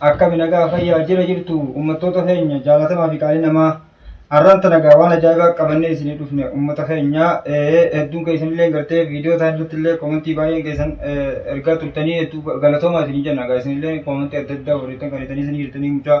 Akkami nagaa fayyaa jira jirtu ummattoota keenya jaalatamaa fi qaalii namaa har'aan tana egaa waan ajaa'ibaa qabannee isinii dhufne ummata keenya hedduun keessan illee gartee viidiyoo isaan irratti illee koomentii baay'een keessan ergaa turtanii hedduu galatoomaa isinii jenna egaa isin illee koomentii adda addaa warreettan kan itanii isinii jirtanii mucaa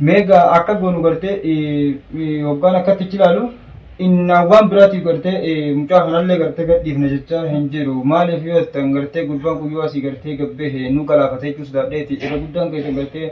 Meega akka goonu gartee hoggaan akkatti ichi ilaalu innaa waan biraatiif gartee mucaa kanallee gartee gadhiifna jechaa hin jiru. Maaliif yoo jettan gartee gurbaan kun yoo asii gartee gabbehe nu galaafata jechuu sodaadheeti. Irra guddaan keessan gartee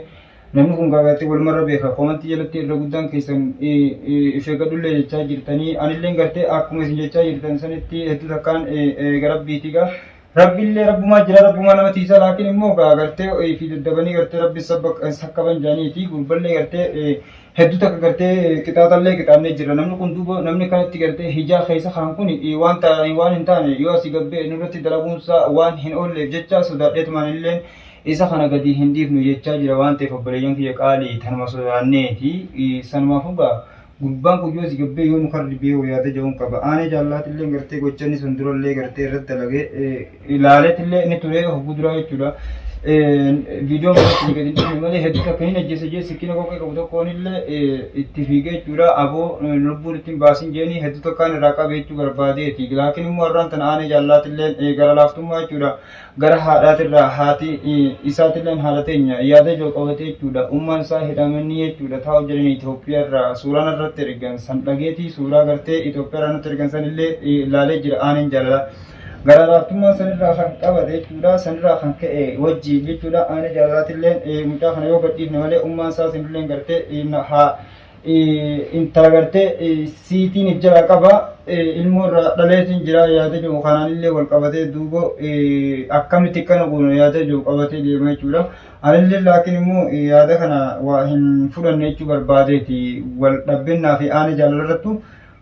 namni kun gartee walumarra beeka. Komantii jalatti irra guddaan keessan if eeggadhullee jechaa jirtanii. Anillee gartee akkuma isin jechaa jirtan sanitti hedduu takkaan eega rabbiiti egaa. Rabbillee rabbumaa jira rabbumaa nama tiisa laakiin immoo gaa gartee ofii daddabanii gartee rabbi sakkaban jaanii fi gurballee gartee hedduu takka gartee qixaaxallee qixaannee jirra namni kun duuba namni kanatti gartee hijaa keessa kaan kun waan taa'anii waan hin taane yoo asii gabbee nurratti dalaguunsaa waan hin oolleef jecha sodaadheetumaan illeen isa kana gadi hin dhiifnu jechaa jira waan ta'eef obboleeyyan kiyya qaalii tanuma sodaanneeti sanumaaf hugaa Gurbaan kun yoo si gabbee yoo mukarra dibee hoo yaada ja'uun qaba. Aanee jaallaatiillee gartee gocha inni sun durallee gartee irratti dalagee ilaaleetillee inni turee hogguu duraa jechuudha. Viidiyoon biratti ni gadi dhiifne malee hedduu takka hin ajjeese jee sikkina kokkee qabu tokkoonillee itti fiigee jechuudha. Aboo lubbuun ittiin baasin jeeni hedduu takkaan irraa qabe jechuu barbaadeeti. Laakiin immoo har'aan tana aanee jaallaatiillee gara laaftummaa jechuudha. gara haadhaatirraa haati isaatilleen haadha teenya yaada ijoo qabate jechuudha ummaan isaa hidhamanii jechuudha taa'u jedhanii Itoophiyaarraa suuraa narratti ergan san dhageetii suuraa gartee Itoophiyaarraa natti ergan sanillee ilaalee jira aaneen jaalala gara laaftummaa sanirraa kan qabate jechuudha sanirraa kan ka'e wajji jechuudha aanee jaalalaatilleen mucaa kana yoo gadhiifne malee ummaan isaa sanilleen gartee haa intala gartee siitiin if jalaa qaba ilmoo irraa dhaleetiin jira yaada jiru kanaan illee wal qabatee duuba akkamitti kana goona yaada jiru qabatee deema jechuudha. Anillee laakiin immoo yaada kana waa hin fudhanne jechuu barbaadeeti wal dhabbinaa fi aana jaalala irrattu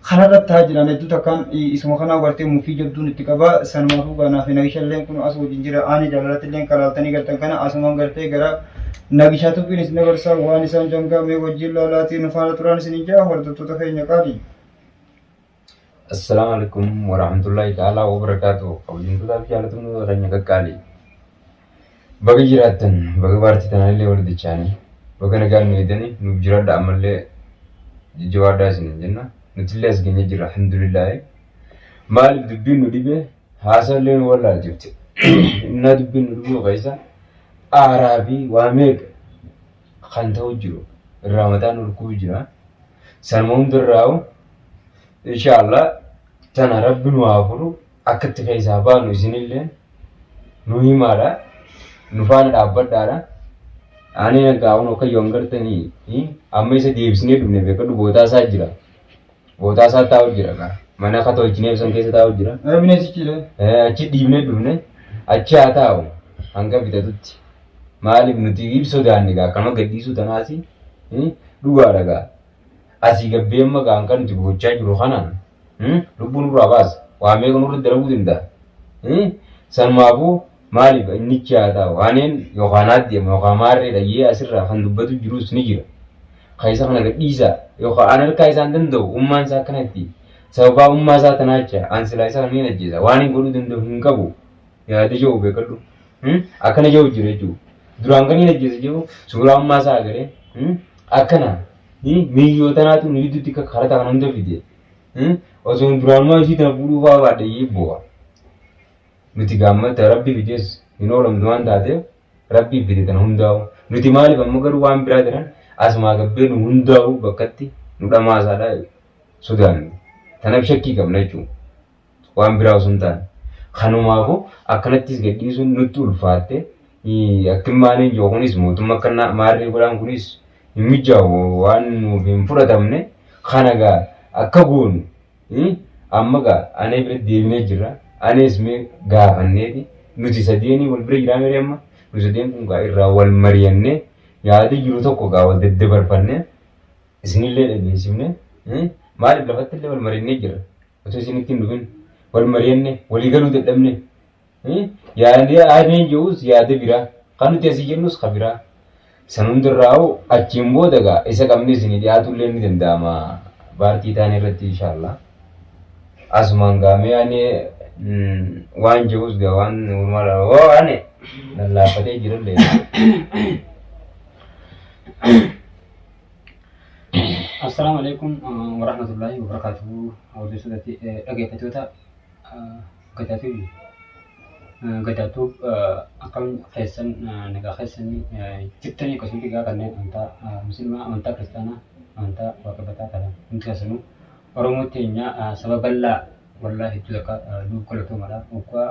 kanarratti haa jiran hedduu takkaan isuma kanaa gartee mufii jabduun itti qaba sanumaafuu gaa naaf nagisha illee kun as wajjin jira aani jaalalatti illee kan laaltanii gartan kana asumaan gartee gara nagishaa tubbiin isin dabarsaa waan isaan jangaa mee wajjin laalaatii nu faana turaan isin ijaa hordoftoota keenya qaali. Assalamu alaikum warahmatullahi ta'ala wabarakatuh. Kabajamtootaa fi jaalatamtoota keenya qaqqaalii. Baga jiraattan baga paartii tanaanillee wal dachaanii baga nagaan nu eedani nuuf jiraadha ammallee jajjabaadhaa isiniin jenna nutillee as geenye jirra alhamdulillaahi maaliif dubbiin nu dhibe haasaallee nu wallaalchifte innaa dubbiin nu dhibuu keessa aaraa fi waa meeqa kan ta'u jiru irraa mataa nu rukkuu jira sanuma hundarraa'u inshaallah tana rabbi nu haa furu Akka itti keessaa baanu isinilleen nu himaadha. Nu faana dhaabbadhaadha. Aanee nagaa kun akka yoon gartanii amma isa deebisnee dhufne beekadhu bootaa isaa jira. Bootaa isaa taa'u jira kaa. Mana akka tolchinee ibsan keessa taa'u jira. Ee bineensi ciire. Eh, achi dhiibnee dhufne achi haa taa'u hanga bitatutti maaliif nuti hin sodaanne gaa akkama gadhiisuu tanaasi eh, dhugaadha gaa asii gabbeemma gaa kan nuti gochaa jiru kana Hmm? Lubbuu nurraa baasa. Waan meeqa nurratti dalaguu danda'a. Hmm? Sanumaafuu maaliif innichi haa taa'u. Aneen yookaan aaddeema yookaan maarree dhayyee asirraa kan dubbatu jirus ni jira. Kan isa kana gadhiisaa yookaan an harkaa isaan danda'u ummaan isaa akkanatti sababaa ummaa isaa tanaacha an silaa isa kana ni ajjeesa waan hin godhuu danda'u hin qabu yaada jiru beekadhu. Hmm? Akkana jiru jira jechuudha. Duraan kan hin ajjeesa jiru suuraa ummaa isaa agaree hmm? akkana Miyyoo tanaatu nu jidduutti akka karata kana hunda fide. Osoo duraanumaa ishii tana fuudhuu fa'aa baadhe iyyuu boo'a. Nuti gaammata rabbi fidees hin oolamtu waan taateef rabbi fide tana hundaa'u. Nuti maaliif amma garuu waan biraa jiran asumaa gabbee nu hundaa'u bakkatti nu dhamaasaadha sodaanne. Tanaaf shakkii qabna jechuudha. waan biraa osoo hin taane. Kanumaafu akkanattis gadhiisuun nutti ulfaatte akkin maaliin jiru kunis mootummaa akkannaa maarree godhaan kunis hin mijaa'u waan nuuf hin fudhatamne kana gaa akka goonu amma gaa anee bira deebinee jirra anees mee gaafanneeti nuti sadeenii wal bira jiraa mere amma nu sadeen kun gaa irraa wal mariyannee yaada jiru tokko gaa wal daddabarfannee isinillee dhageessifne maaliif lafattillee wal marinnee jirra. Otoo isin ittiin dhufin wal mari'anne walii galuu dadhabne. Yaadni aadeen jedhus yaada biraa kan nuti asii jennus kan biraa. San hundarraa'u achiin booda egaa isa qabnee isinii dhiyaatu illee ni danda'ama. Baartii taane irratti inshaallah. Asumaan gaamee ani waan jedhus gaa waan uumaa dha. Hoo ani lallaafatee jira illee. Assalaamu alaikum warahmatullahi wabarakatuhu hordoftootatti dhaggeeffattoota Gadaa TV Gadaa Tube akkam keessan nagaa keessanii jirtanii akkasumas egaa kanneen amantaa musliimaa amantaa kiristaanaa amantaa waaqeffataa kana hundi keessanuu Oromoo teenya saba bal'aa wallaa hedduu takka nuuf galatoomadha waggaa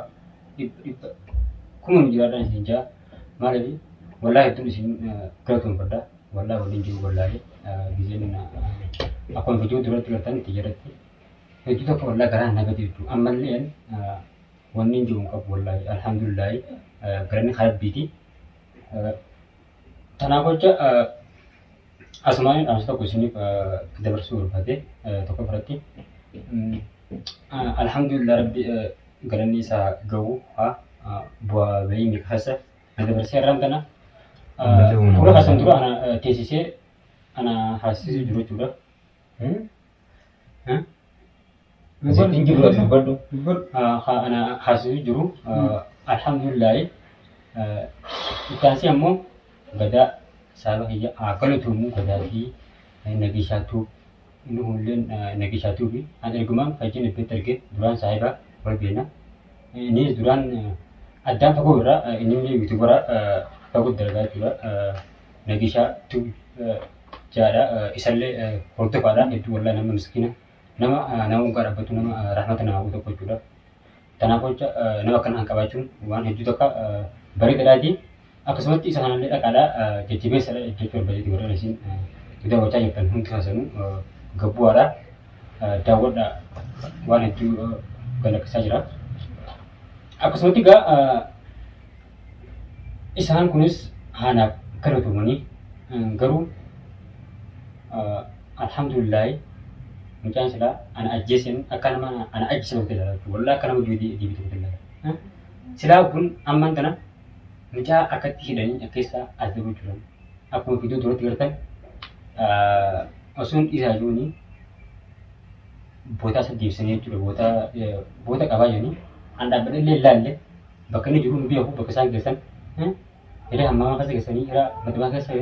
dhibba dhibba kuma nu jiraadhaan isin jaa maaliif wallaa hedduun isin galatoomfadha. Wallah waliin jiru wallaahi gizeen akkuma viidiyoo duratti gartan itti jedhatti hedduu tokko wallah garaan na gadi hedduu ammallee wanni hin jiru hin qabu wallaahi alhamdulillaahi galanni harabbiiti tanaaf hojja asumaan dhaamsa tokko isiniif dabarsuu barbaade tokko biratti alhamdulillah rabbi galanni isaa gahu haa bu'aa bahii miqasa na dabarsee irraan tana Ammallee humna fuula baay'ee. kasan dura ana eh, teessisee ana haasisuu jiru jechuudha. Hmm? Hmm? Asitti hin jiru ati dubbadhu. Dubbadhu. Ah, ha- ana haasisuu jiru. Ah, Alhamdulillaahi. Ah, Itti aansee ammoo gadaa saaba kiyya haa galatoomuu gadaa fi eh, nageeshaattuu Inni kunilleen nagishaa tuubi. An ergumaan fayyiin ebbeetti arge duraan saahibaa wal beekna. Innis duraan addaan fagoo irraa innillee yuutuubara fagoo dalagaa jechuudha. Nagishaa tuubi jaadha. Isallee hordofaadha hedduu wallaahi nama miskiina. Nama nama waggaa dhaabbatu nama rahmata nama hawwu tokko jechuudha. Kanaaf jecha nama akkana kan qabaachuun waan hedduu takka bareedadhaati. Akkasumatti isa kanallee dhaqaadha jajjabeessadha jechuu barbadeeti warri isin daawwachaa jirtan hundi keessanuu gabbu'aadha. Daawwadha waan hedduu galakkisaa jira. Akkasumatti egaa Isaan kunis haanaaf galatomanii garuu alhamdulillahi mucaan silaa ana ajjeesen akka nama ana ajjeese tokkotti ilaala jechuudha. Wallah akka nama du'e deebii tokkotti ilaala. Silaa kun ammaan tana mucaa akkatti hidhanii akkeessaa as dabuu jiran akkuma fiduu duratti gartan osoon dhiisaa jiruuni bootaa isa deebisanii jechuudha. Bootaa boota qabaa jiranii an dhaabbadhe illee ilaalle bakka inni jiru nu beeku bakka isaan geessan hiree hammaamaa keessa geessanii hiraa madamaa keessa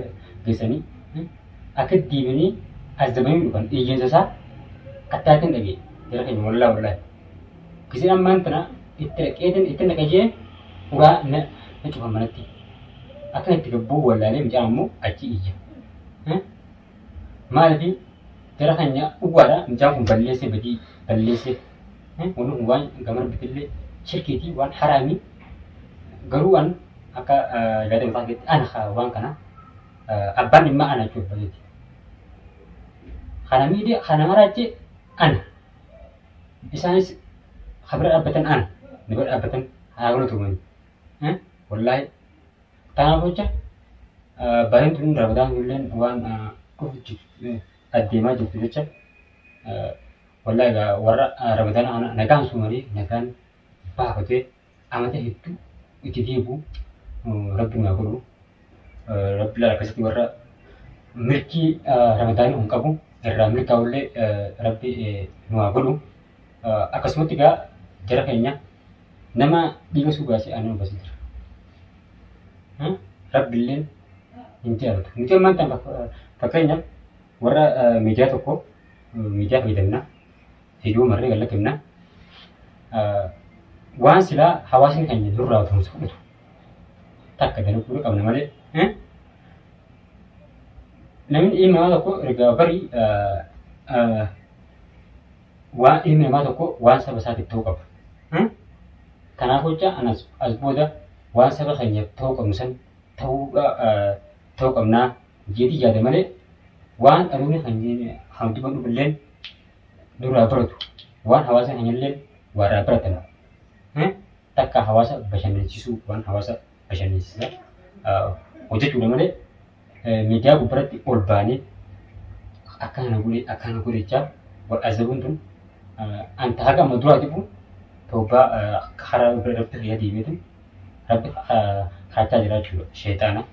geessanii akka deebiinii azzabanii dhufan iyyansa isaa attaatiin dhagee jara keenya wallaa wallaa kisin ammaan tana itti dhaqeetiin itti dhaqajee uraa na cufan manatti akka itti gabbuu wallaalee mucaan ammoo achi iyya maaliif jara keenya dhugaadha mucaan kun balleessee badii balleessee Wanni kun waan gaman bitillee shirkiitii waan haraamii garuu an akka yaada mataa keetti ana ka waan kana abbaan dhimmaa ana jechuun fayyiti. Kana miidhee kana maraachee ana isaanis ka bira dhaabbatan ana na bira dhaabbatan haa gona tuumani. Wallaahi tanaaf jecha bareen tun rabadaan illeen waan dhufu addeemaa jirtu jecha Wallahi ga warra Ramadana ana nagaan sumane nagaan baafate amata heddu itti deebu rabbi nu godhu rabbi la akkasitti warra mirkii Ramadana hin qabu irraa mirkaa ulle rabbi nu godhu akkasumatti ga jara keenya nama dhiiga suu baase ana nu basitira rabbi illeen hin jaalatu nuti ammaan tan fakkeenyaaf warra miidiyaa tokko miidiyaa fayyadamna. Viidiyoo marree gallakkifna. Waan silaa hawaasni keenya durraa turumsa fudhatu takka dalaguu qabna malee namni ilmi namaa tokko erga barii waan ilmi namaa tokko waan saba isaatiif ta'uu qaba. Kanaaf jecha anas as booda waan saba keenyaaf ta'uu qabnu san ta'uu qabnaa jeedhii jaade malee waan dhaloonni keenya kan dubadhu illeen duraa baratu waan hawaasa keenya illeen warraa baratan takka hawaasa bashannansiisuu waan hawaasa bashannansiisa hojjechuudha malee miidiyaa gubbaratti ol baanee akka kana godhe akka kana godhe jechaa wal azabuun tun anta haga amma duraa jibu toobaa karaa irratti fayyaa deemeetu Rabbi kaachaa jira jechuudha sheexaana.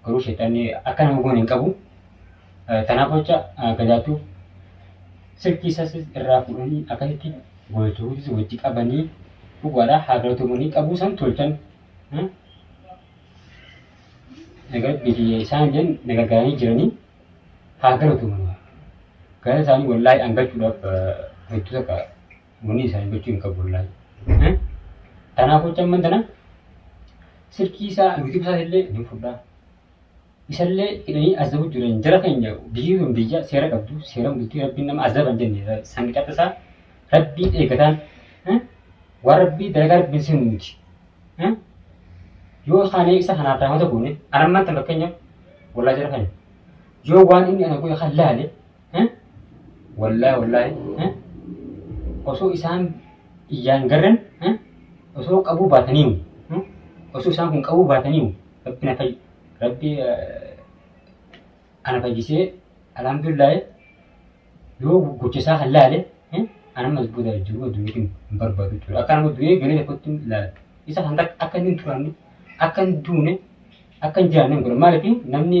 Garuu sheexanni akka nama goone hin qabu. Tanaaf jecha gadaattuu silkii isas irraa fuudhanii akkasitti gooltuutis wajji qabanii dhugaadha haa galatoomanii qabuu san tolchan. Rabbiitii isaan illee na gargaaranii jiranii haa galatoomanii. Galata isaanii wallaahi angachuudhaaf hedduu takka Muni isaanii gochuu hin qabu wallahi. Eh? Tanaaf hojii amman tana silkii isaa YouTube isaa illee ni fudhaa. Isallee hidhanii azabu jiran jara keenya biyyi sun biyya seera qabdu seera bultii rabbiin nama azaban jenne san qaxasaa rabbiin eegataan eh? waan rabbii dalagaa rabbiin seenu miti. Eh? Yoo kaanee isa kanaaf raamata goone anammaan tan fakkeenyaaf wallahi jara keenya yoo waan inni ana godhe kan laale Wallahi wallahi osoo isaan iyyaan garran osoo qabuu baataniiru osoo isaan kun qabuu baataniiru rabbi na fayyi rabbi ana fayyisee alhamdulillah yoo gocha isaa kan laale ana mas booda jiru addunyaa kun hin barbaadu jechuudha akka nama du'ee galee tokkotti laala isa kan akka inni hin turanne akka hin duune akka hin jiraanne hin godha maaliif namni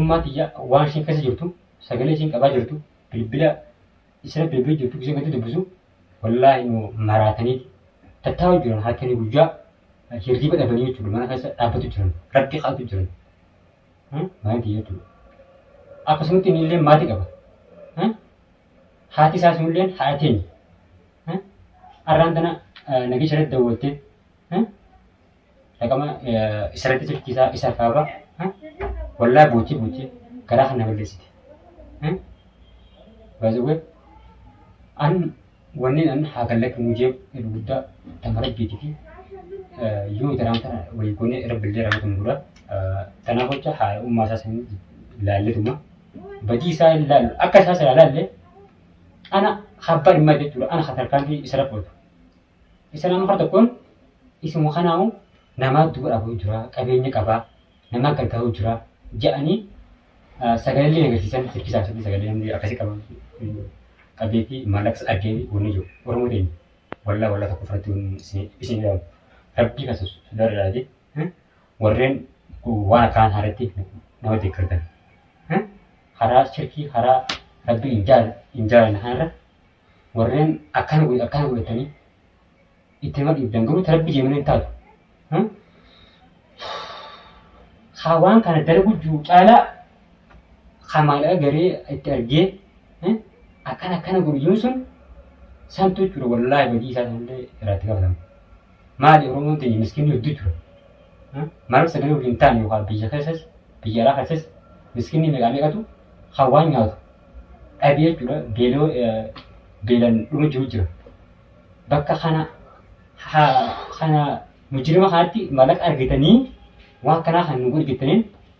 Ummaa tiyya waan ishiin keessa jirtu sagalee ishiin qabaa jirtu bilbila isira bilbila jirtu gisee gadi dubbisu wallaahi nu maraataniiti tattaa'u jiran halkanii guyyaa hirriba dhabanii jechuudha mana keessa dhaabbatu jiran rabbi kadhatu jiran Hmm? mana tiyya jechuudha akkasumatti inni illee maati qaba Hmm? haati isaa sun illee haadha teenya Hmm? arraan tana nageesha irratti dawwattee Hmm? dhaqama isarratti turchiisaa isa kaaba wallaa buuchii buuchii garaa kana balleessite. Baay'ee an wanni an haa gallatu nu jee guddaa tama rabbiiti fi yoo taraan kana walii goonee rabbillee ramatu nu godha. Tanaaf jecha haa ummaa isaa sanii laalletuma badii isaa hin laalu akka isaa sirraa laallee ana habbaan himmaa jechuudha ana hatarkaan fi isarra qooddu. Isa nama kara tokkoon isuma kanaa'u namaa duba dhabuu jira, qabeenya qaba, namaa gargaaruu jira ja'anii sagalee agarsiisan sirbi saabsanii sagalee namni akkasii qabu qabeetii maallaqas argee wanni jiru Oromoo ta'in wallaa wallaa tokko fudhachuu isin jedhamu rabbii kan sodaadhaati warreen waan akkaan haaratti nama deeggartan karaa shirkii karaa rabbii hin jaalanne kanarra warreen akkana godhe akkana godhatanii itti nama dhiibdan garuu ta rabbi jee malee hin taatu. Hmm? Haa waan kana dalagu jiru caalaa haa maallaqa garee itti argee hmm? akkana akkana godhu jiru sun santu jechuudha wallaahi badii isaa sanillee irratti gaafatamu. Maali Oromoon teenya miskiinni hedduu jira. Ha? Maaliif sagalee waliin taane yookaan biyya keessas biyya alaa keessas miskiinni meeqaa meeqatu kan waan nyaatu dhabee jechuudha beeloo eh, beelan dhuma jiru jira. Bakka kana ha, kana mujirima kanatti mallaqa argitanii waan kanaa kan nu godhi jettaniin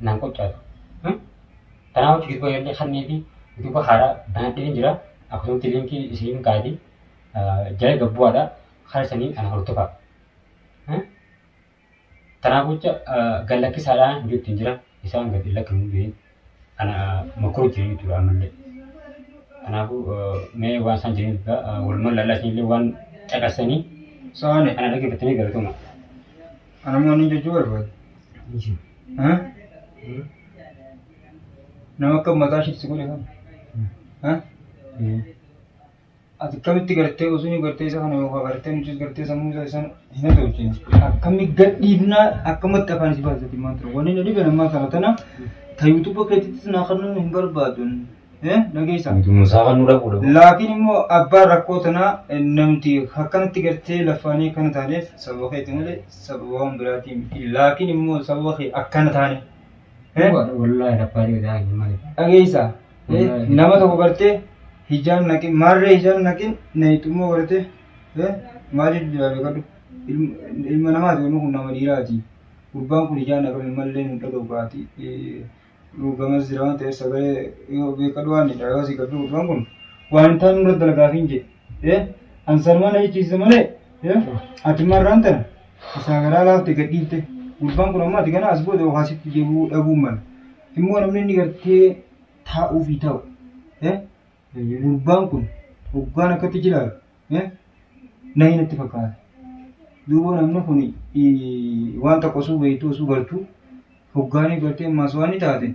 naan qoccaatu. Kanaa wajji gidduuba yaallee kannee fi gidduuba haaraa banadhee hin jira. Akkasumatti liinkii isiin kaa'eeti jala gabbu'aadha. Karaa sanii ana hordofaa. Kanaa gocha gallakkisaadhaan hojjetti hin jira. Isaan gad hin lakkifamu jedheen. Kana makoo jiru jechuudha ammallee. Kanaafuu mee waan isaan jiran egaa walumaan lallaa isinillee waan caqasanii So'aale. kana dhaggeeffattanii galatoomaa. Ana immoo inni jechuu barbaadu. Ha? Nama akka mataa ishiitti si godhe kana. Ha? Ati akkamitti gartee osoo gartee isa kana yookaan gartee nutis gartee sammuu isaa isaan hin hasoofsine akkamni gadhiifnaa akkamatti afaan isii baasisatti himaa ture wanni na dhibe ammaa kana tana ta yuutuuba keetittis naa kannuu hin barbaadun dhageessa. Musaa kan nu dhaquu dhabu. Laakiin immoo abbaa rakkoo tanaa namti akkanatti gartee lafaanii akkana taaneef sababa keeti malee sababa waan biraatii miti laakiin immoo sababa kee akkana taane. Wallaahi rabbaa dhiigaa hin malee. Dhageessa. Nama tokko gartee hijaan naqin maarree hijaan naqin nayxummoo gartee maal jedhu jira beekadhu ilma namaati wanni kun nama dhiiraati gurbaan kun hijaan naqame mallee nu dhadhoogaati gamas jira waan ta'eef sagalee yoo beekadhu waan jedha yoo si gabbi gurbaan kun waan hin taane nurra dalagaafiin jedhe Eh, an sanuma na jechisiise malee eh, ati marraan tana isaa garaa laafte gad dhiifte gurbaan kun ammaa ati kana as booda waa sitti deebi'uu dhabuu mala immoo namni inni gartee taa'uu fi taa'u eh, gurbaan kun hoggaan akkatti jilaalu eh, na hin itti fakkaata duuba namni kun eh, waan tokko osoo beektuu osoo gartuu hoggaanii gartee ammaas waan ni taate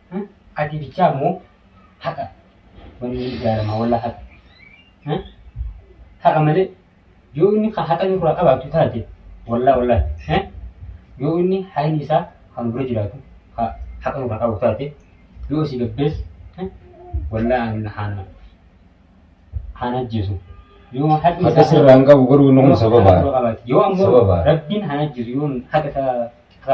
Hmm? Ati bichaa moo haqa wanni ni ijaarama walla haqa. Hmm? Haqa malee yoo inni kan haqa nurraa qabaatu taate wallaa wallaa eh? yoo inni hayni isaa kan dura jiraatu ka haqa nurraa qabu taate yoo si gabbees eh? wallaa an haana haana ajjeesu yoo haqni Haqa sirraa hin qabu garuu inni kun sababa. yoo ammoo Sababa. rabbiin haana ajjeesu yoo haqa isaa ka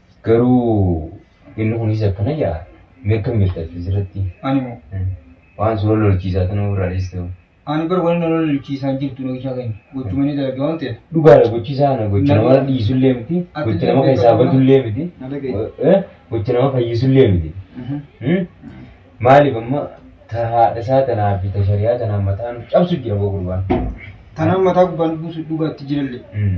Garuu inni kunis akkana jaa mee akkam jirta asirratti Ani moo waan suuraa lolchiisaa tana ofirraa dhiistu ani bar wani nolo lolchiisaan jirtu nagishaa keenya gochumanii dalagee waan ta'eef dhugaadha gochisaa kana gocha nama dhiisullee miti gocha nama keessaa badullee miti na dhagaye. eh, gocha nama fayyisullee miti Hmm? maaliif amma ta haadha isaa tanaa fi ta shari'aa tanaa mataa nu cabsu jira boo gurbaan Tanaan mataa gubbaan buusu dhugaatti jilallee. Hmm.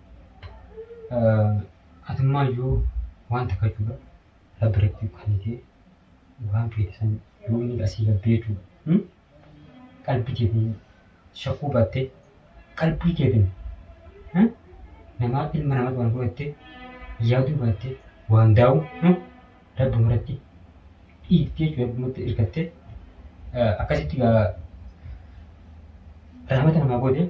Atummaa iyyuu waan takka jechuudha. Rabbi irratti kannitee waan feete san yoo inni asii gad beeku qalbii keetiin shakkuu baattee qalbii keetiin namaa ilma namaa waan godhattee yaaduu baattee waan daa'u Rabbi irratti dhiiftee jechuudha. Rabbi irratti hirkattee akkasitti gaa rahmata namaa goote.